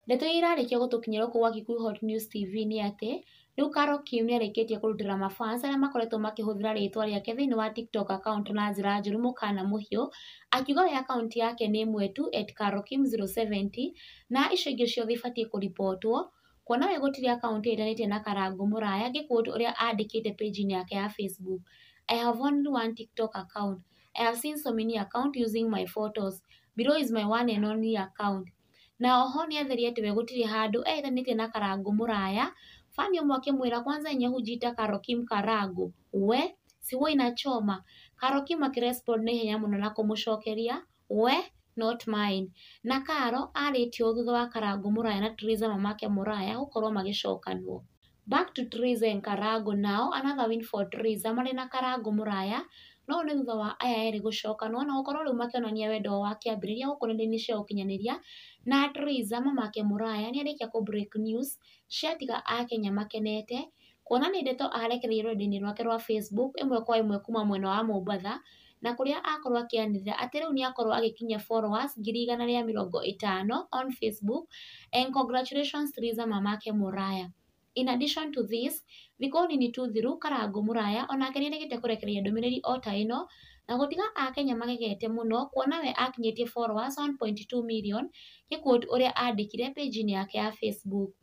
Ndeto iria irarĩkĩa gũtũkinyĩra gũkũ gwa Kikuyu Hot News TV nĩ atĩ, rĩu Carol Kim nĩ arĩkĩtie kũrutĩra ma fans arĩa makoretwo makĩhũthĩra rĩtwa rĩake thĩinĩ wa TikTok account na njĩra njũru mũkana mũhiũ, akiuga we account yake nĩ ĩmwe tu @carolkim070 na icio ingĩ ciothe ibatiĩ kũ report wo, kuona we gũtirĩ account ĩtanĩtie na Karangũ mũraya ngĩ quote ũrĩa andĩkĩte page inĩ yake ya Facebook, I have only one TikTok account, I have seen so many account using my photos, below is my one and only account. Na oho nĩ atheria atĩ we gũtirĩ handũ eĩthanĩtie na Karangũ mũraya, Fani ũmwe akĩmwĩra kwanza yenye hujiita Karo Kim Karangũ, we, si huwa inachoma? Karo Kim akĩrespond na ihenya mũno na kũmũcokeria, we, not mine. Na Karo arĩtie ũũ thutha wa Karangũ mũraya na Tiriza mamake mũraya gũkorwo magĩcokanwo. Back to Theresa and Karango now another win for Theresa marĩ na Karango Mũraya, no ũyũ nĩ thutha wa aya erĩ gũcoka, nĩ wona gũkorwo rĩu makĩonania wendo wao wa kĩambĩrĩria gũkũ nenda-inĩ cia ũkinyanĩria, na Theresa mamake Mũraya nĩ arĩkia kũ break news ciatiga akenya makenete, kuona nĩ ndeto arekereirie rũrenda-inĩ rwake rwa Facebook ĩmwe kwa ĩmwe kuma mwena wa Mombatha, na kũrĩa akorwo akĩanĩrĩra atĩ rĩu nĩ akorwo agĩkinyia followers ngiri igana rĩa mĩrongo ĩtano on Facebook and congratulations to Liza mamake Moriah. In addition to this, thikũ nini tu thiru Karangũ Moriah o nake nĩ erĩgĩte kũrekereria ndũmĩrĩri o ta ĩno na gũtiga Akenya magegete mũno kuona we akinyĩtie followers 1.2 million, ngĩ quote ũrĩa andĩkire page-inĩ yake ya Facebook.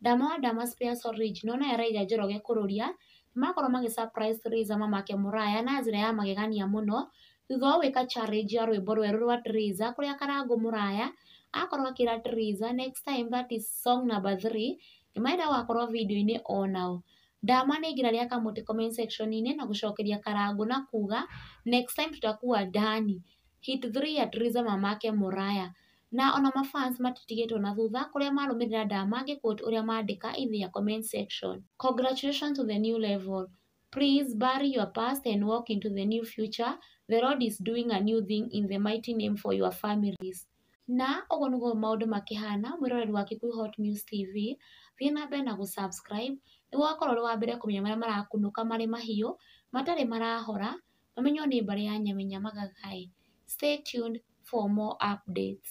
Ndama wa Ndama Spears Orange nĩo nayo ĩraiga Njoroge kũrũria, nĩmakorwo magĩ surprise Theresa mamake mũraya na njĩra ya magegania mũno, thutha wa gwĩka challenge ya rwĩmbo rwerũ rwa Theresa kũrĩa Karangũ mũraya akorwo akĩra Theresa next time that is song number three nĩmarenda gũgakorwo video-inĩ onao. Ndama nĩaingĩra rĩa kamũtĩ comment section -inĩ na gũcokeria Karangũ na kuga next time tutakuwa ndani, hit three ya Theresa mamake mũraya. Na ona ma fans matitigĩtwo na thutha kũrĩa marũmĩrĩra Nda ma ngĩ quote ũrĩa mandĩka in their comment section. Congratulations to the new level. Please bury your past and walk into the new future, the Lord is doing a new thing in the mighty name for your families. Na ũguo nĩguo maũndũ makĩhana mwĩroreri wa Kikuyu Hot News TV, thiĩ na mbere na gũ subscribe nĩguo ũgakorwo ũrĩ wa mbere kũmenya marĩa marakunũka marĩ mahiũ, matarĩ marahora, ũmenye nĩ mbarĩ ya Nyamenya Magaga-ĩ, stay tuned for more updates.